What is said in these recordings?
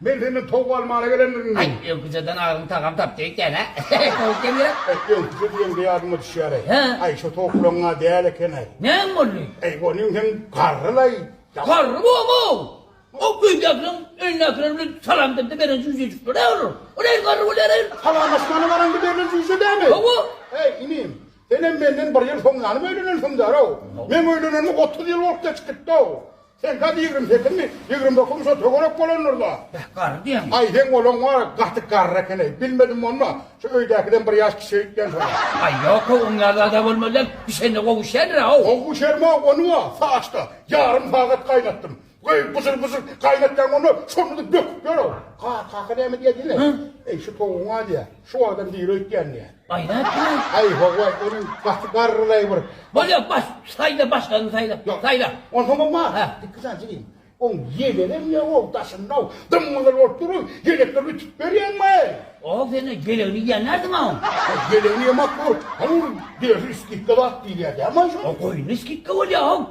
Men senden towuk almana gelendirin. Aý, öwküjeden agzyň tagam tapdy ekeni. Towuk diýendir-ä. Aý, öwküje diýeňde ýadyma düşýär-eý. Hä? Aý, şo towuklaryň-a däl eken-eý. Näme boldy? Aý, onuň hem garry-laý. Garry bor-ow! Ol öýdäkiniň, öýündäkiler bilen salamlaşanda beren jüýjejikleri-ä olar. O nädip garry bolýar-eý? Salamlaşmana baranda berlen jüýje dämi? Hawa. Äý, inim, senem menden bir ýyl soň ýanym öýlenensiňdär-ow. Meň öýlenenime otuz ýyl bolup geçip gitdi-ow. Sen gaty ýigrimi sekizmi, ýigrimi dokuzmy şo töwerek bolandyr-la? Beh, garry diýeňmi? Aý, seň olaň bar, gaty garry eken-eý. Bilmedim monma, şo öýdäkiden bir ýaş kiçiräk diýen soň. Aý, ýok-ow, oň ýaly zad-a bolmazdan, bişende gowuşýandyr-a-ow. Gowy bişerme, ony-a saçda ýarym sagat gaýnatdym. Goý, bujur-bujur gaýnatýaň, onda şonda-da böküp ýör-ow. Ka-kaka näme diýýä diýme. Eý, şu towugyň-a diýýä. Şu adam diri öýtýändiýä. Aý howa ol gaty garrylaý bir. Bolýa bas saýla başgany saýla saýla. Onsoň bolma iki sany çekeyim. Oň ýelenem ýa ol daşyndaw dym gyzyl bolup durun ýelekleri ütüp berýäňmi? Ow sen ýelegini ýen nädin a oň. Ýelegini ýemak bor. Hany ol derisi skidka zat diýilýä dämi aý şu. Ow goýunda skidka bolýa ow.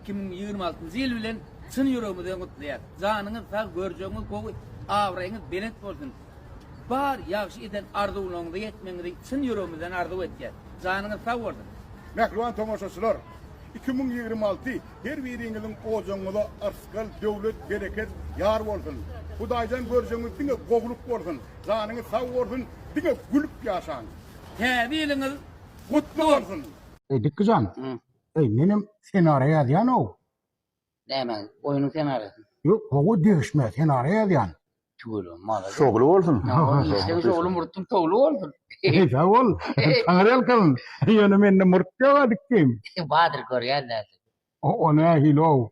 Iki müň ýigrimi altynjy ýyl bilen çyn ýüregimizden gutlaýas. Janyňyz sag, görjegiňiz gowy, abraýyňyz belent bolsun. Bar ýagşy eden arzuwlaryňyza ýetmegiňizi çyn ýüregimizden arzuw etýäs. Janyňyz sag bolsun! Mähriban tomaşaçylar! Iki müň ýigrimi alty her biriňiziň ojagyňyza yrsgal, döwlet, bereket ýar bolsun! Hudaýdan görjegiňiz diňe gowulyk bolsun! Janyňyz sag bolsun, diňe gülüp ýaşaň! Täze ýylyňyz gutly bolsun! Eý Dikgijan, Eý, menem senariýa ýazýan-ow. Näme, oýnuň senariýasymy? Ýok, gowy degişme, senariýa ýazýan. Tüweleme, malades. Şowly bolsun. Işleň şowly, murtuň towly bolsun. Sag bol. Taňryýalkasyn. Ýöne mende murt ýog-a dikdim. Bardyr, görýän dälsiň. O nähili-ow?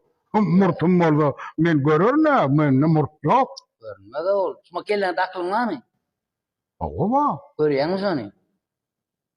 Murtum bolsa, men görerin-ä, mende murt ýok. Görünmez-ow ol. Şuňa kelläňde akylyň barmy? Hawa, bar. Görýäňmi şony?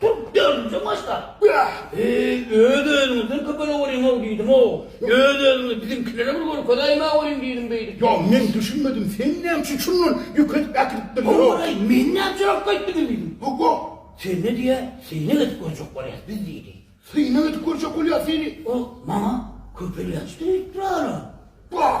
Turk dördünji başda, Bäh, eý, öz-özüňizden köp ala görýäň-ow diýdim-ow. Öz-özüňizi biziňkilere bir görkezäýmä görüň diýdim beýdip. Ýa, men düşünmedim, sen näme üçin şundan ýökedip äkidipdiň? Hawa-laý, men näme üçin alyp gaýtdym diýdim. Hawa. Seni diýä, synak edip görjek bolýas biz diýdi. Synak edip görjek bolýas seni? Ol maňa köpelýänçdi öýdüpdir-ä-la. Bäh,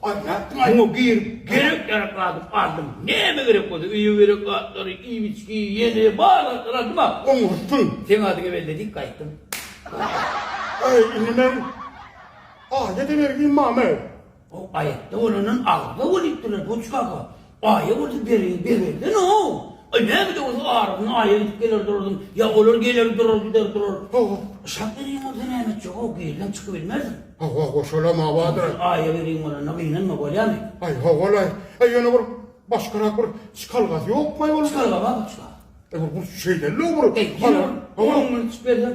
Aýdýarsyň aý. Muňa girip, gerek ýarak adyp aldym. Näme gerek bolsa, öýe gerek zatlary, iýip-içgi, ýene bar zatlary aldym-a. Oňurtgyň. Seň adyňy belledik, gaýtdym. Äý, indi men aýda-da bergin, mama-äý. Aý, aýatda bolandan agza bolýupdyr-a, duşka aga. Aýa bolsa bereýin begendenoo. Aý näme de bolsa aradan aýa gidip geler duradym, ýa olar geler durar gider durar. Hawa. Şat bereýin bolsa näme etjegoo, gizlem çykybilmerdim. Hawa, goş olam hawadyr. Sen aýa bereýin bolanda gynanma bolýamy? Aý howalaý. Aý ýöne bir başgarak bir çykalgasy ýokmaý onuň? Çykalga bar, çykalga. Aý bir şeýdeli-ow bir. Aý ýene bir on münçik berseň.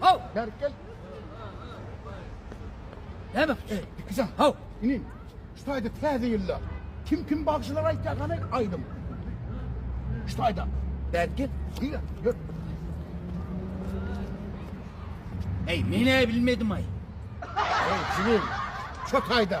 Haw! Gel, gel. Näme? Ey, dikizan, haw! Inin, şu taýda täze ýylda kim kim bagşylar aýtýar gany aýdym. Şu taýda. Gel, gel. Diýe, gör. Ey, men-ä bilmedim-aý. Ey, jigim, şu taýda.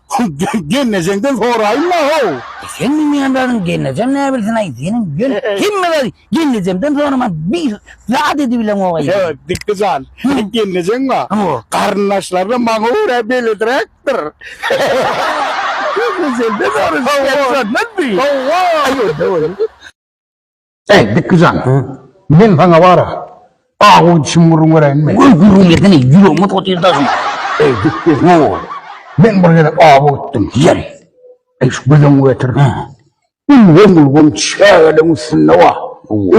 Gelnejeňden soraýynma how. Sen bilmeýän zadyň gelnejem näbilsinay seniň ýöne hemme zady gelnejemden soraman bir zat edibilemogay. Ýa Dikdi jan seniň gelnejeň ba garyndaşlaryna maňa görä beledräkdir. Gelnejeňden soraşyp gelip görmezmi. Howwa. Eý, Bekgi jan, men saňa bar-a, awy dişimi gürrüň bereýinmi? Goý, gürrüň bersene, ýüregime tut ýer daşyň. Eý, Bekgi, ýow, men bir gezek awy gitdim. Ýeri, eý, şu gözüňi getir. Ulgam-ulgam çägeligiň üstünde-ow,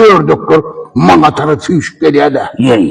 ördekler maňa tarap süýşüp gelýär-dä. Ýeri,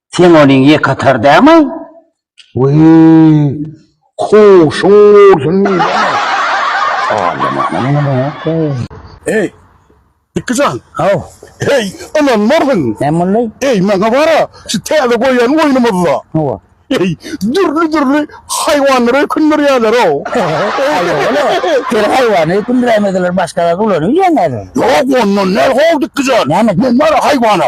Sen onuň ýekatar dämi? Wüy! Kuşuň bolsun diýdim. Eý, Dikgijan! Haw! Eý, ynanmarsyň! Näme boldy? Eý, maňa bar-a, şu täze goýan oýnumyzda. Hawa. Eý, dürli-dürli haýwanlary öýkündirýärler-ow. Haýwany? Sen haýwany öýkündiräýmeseler, başga zat ulanyp ýörýäň häzir. Ýok, ondan däl-how, Dikgijan. Näme? Men bar-a haýwana.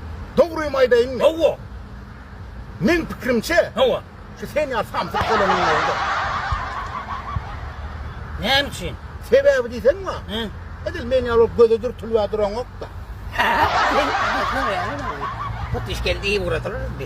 Dogrymy aýdaýynmy? Hawa. Meň pikirimçe, Hawa. şu sen ýaly samsyk bolanyň özi-de. Näme üçin? Sebäbi diýseň wah, Hä? edil meň ýaly bolup göze dürtülibä duraňok-da. Hut işkildi iýip uradylar indi.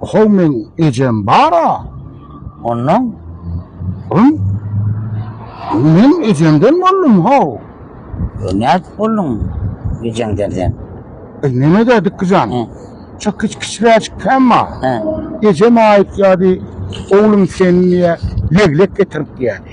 How meň ejem bara ondan soň men ejemden boldum how. E nädip bolduň ejeňden sen? E neme de dikkijan. He. Çak kiç kiçiräjik käm bar. He. Ejem aýytýardy, oglum sen diýe leglek getirip diýerdi.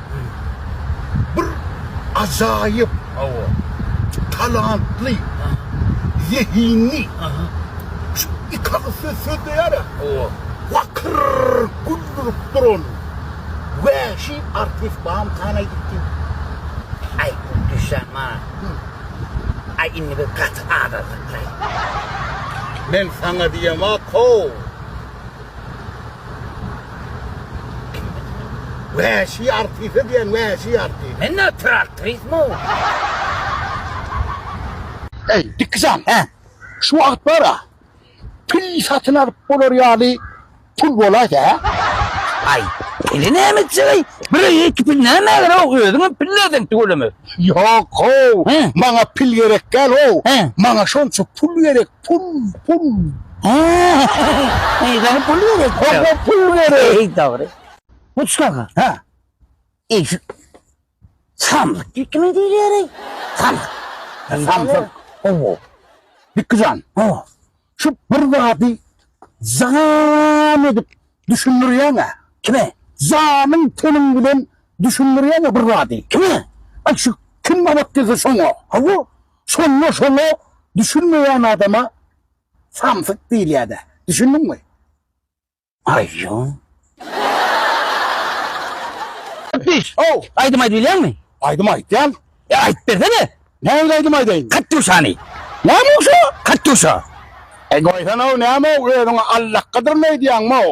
Bir ajaýyp hawa talantly zehinli şu iki agyz söz sözleýärä hawa lakyr güldürip duran wäşi artist bam kan aýdyp diýip Aý bu düşýän mana Aý indi biz gaty azadlyklaý. Men saňa diýemok how. Wäşi artise diýen wäşi artist. Men nätdir artrismu. Eý Dikkijan hä şu wagt bara pil satyn alyp bolar ýaly pul bolaýsa hä. Aý pili näme etjegey bire ýeke pil nämä gerek özüňem pil näden tüweleme. Ýok how maňa pil gerek däl how maňa şonça pul gerek Pul, pul. Eýsem pul gerek. Hop, pul gerek. Eý, dogry. Mustafa. Hä. Eýse. Samsyk dikme diýilýär. Samsyk. Samsyk. Owo. Dikjan. O. Şu bir zady zan edip düşündirýäň-ä. Kime? Zanyň teniň bilen düşündirýäň-ä bir zady. Kime? Aý şu kim gabat gelse şoňa. Hawa. Şonda şoňa düşünmeýän adama samsyk diýilýär-dä. Düşündiňmi? Aýjyn. Gepleýiş. How, aýdym aýdyp bilýäňmi? Aýdym aýtýan. E, aýdyp bersene. Nähili aýdym aýdaýyn? Katýuşany. Näme şu? Katýuşa. E, goýsana-ow, näme-ow, özüňi allakgadyryn öýdýäňmi-ow?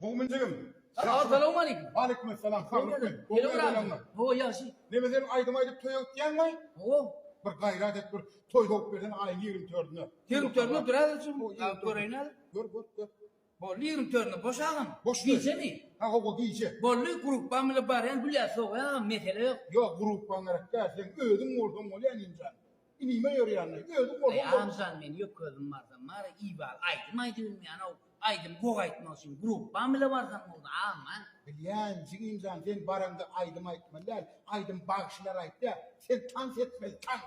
Mogmin jigim Assalamu aleykum. Waleýkim essalam. Saglyk men. Gowy ýaşaýaňlar. Hawa ýagşy. Neme sen aýdym aýdyp toýa gitýäňmi? Hawa. Bir gaýrat et bir toý sowup bersen aýyň ýigrimi tördüne. Ýigrimi tördüne durar özüm. Göreýin häzir. Gör gör gör. Boldy ýigrimi tördüne boş agam. Boş gijemi? Ha hawa gije. Boldy grupbam bilen barýan gülýä sowaýa agam mesele ýok. Ýok grupbaň gerek däl seň özüň bolsaň bolýa Emin jan. Inime ýörýänmi? Özi bolsa bolmuşy. Aý Anjan men ýok gözüm barsam bar Iwal aýdym aýdyp bilmeýänow aýdym gowy aýtmak üçin gruppam bile barsam boldy aman. Bilýän jigimjan sen baraňda aýdym aýtmaly däl aýdym bagşylar aýtýa sen tans etmeli tans.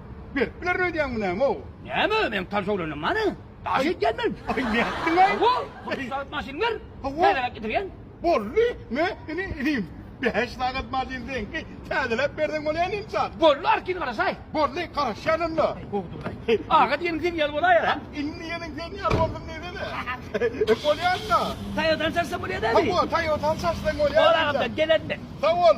Berip bilerin öýdýäňmi näme-ow? Näme, meniň tans öwrenem bany. Daş edýän men. Aý, nätdiň-aý? Hawa, hut şu sagat maşyny ber. Hawa. Täzeläp getirýän. Boldy, men indi inim. Bäş sagat maşyny seňki. Täzeläp berseň bolýan ynsan. Boldy, arkin garaşaý. Boldy, garaşýan onda. Howdurdaý. Aga diýeniň seň ýaly bolaýar, hä? Indi diýeniň seň ýaly boldum diýsene. Bolýan-da. Toýotan çaşsaň bolýar-da indi. Hawa, Toýotan çaşsaň bolýar. Bol, agam, men gelenmen. Sag bol.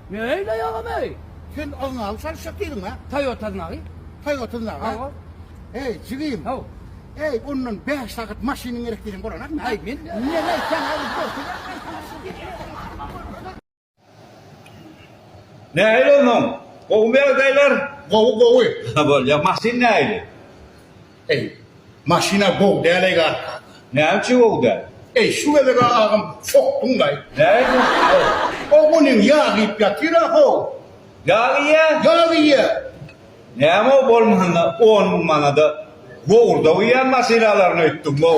Ne öýleýin agam eý. Sen ozňagy çalyşjak diýdiň a? Toyota znagy. Toyota znagy a? Hawa. Eý jigim. Haw. Eý ondan bäş sagat maşynyň gerek diýseň bolanakmy a? Eý men Neme aýtsaň aýdyp dur. Nähili onsoň? Gowumy ýagdaýlar? Gowy gowy. Bolýar. Maşyn nähili? Eý, maşyna gowy däl-eý garka. Näçe gowy däl? Eý, şu gezeg-ä agam sokduň-laý. Nädip? Ho, o günem ýag iýip ýatyr-a-how. Ýag iýýä? Ýag iýýä. Näme-ow, bolmanda on müň manada gowurdak iýýän maşynalaryny öýtdüň-ow.